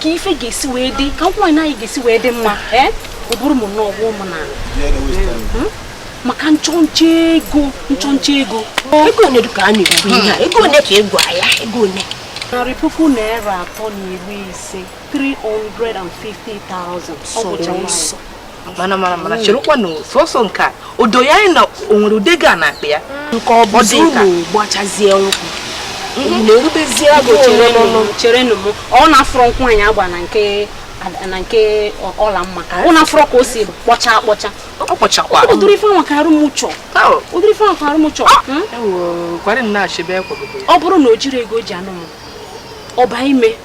ka ife ga-esi wee dị ka nkwụ nwaanyị ga-esi wee dị mma ee ọ bụrụ m nnọọ ọ gwa mụ na maka nchọnchọ ego nchọnchọ ego ego one ka a na-ekwu ihe a ego one ka ego ya ego one narị puku naira atọ na iri ise 350,000 ọ bụcha nwaanyị mana mana mana cherekwa na sọsọ nke a o do ya anya na o nwere ụdị ego a n'akpa ya nke ọ bụ dị ka gbachazie nkwụ mhm. na-erubezie agụụ cherenụ m ọ na-afụrọ nkwụ anyị agba na nke na nke ọlamma ọ na-afụrọ ka o si kpọcha akpọcha ọ kpọchakwa ụdịrị ife nwa ka arụ m chọ ụdịrị ife nwa ka arụ m chọ ah! hmm? ọ bụrụ na o jirọ ego o ji anụ m ọba ime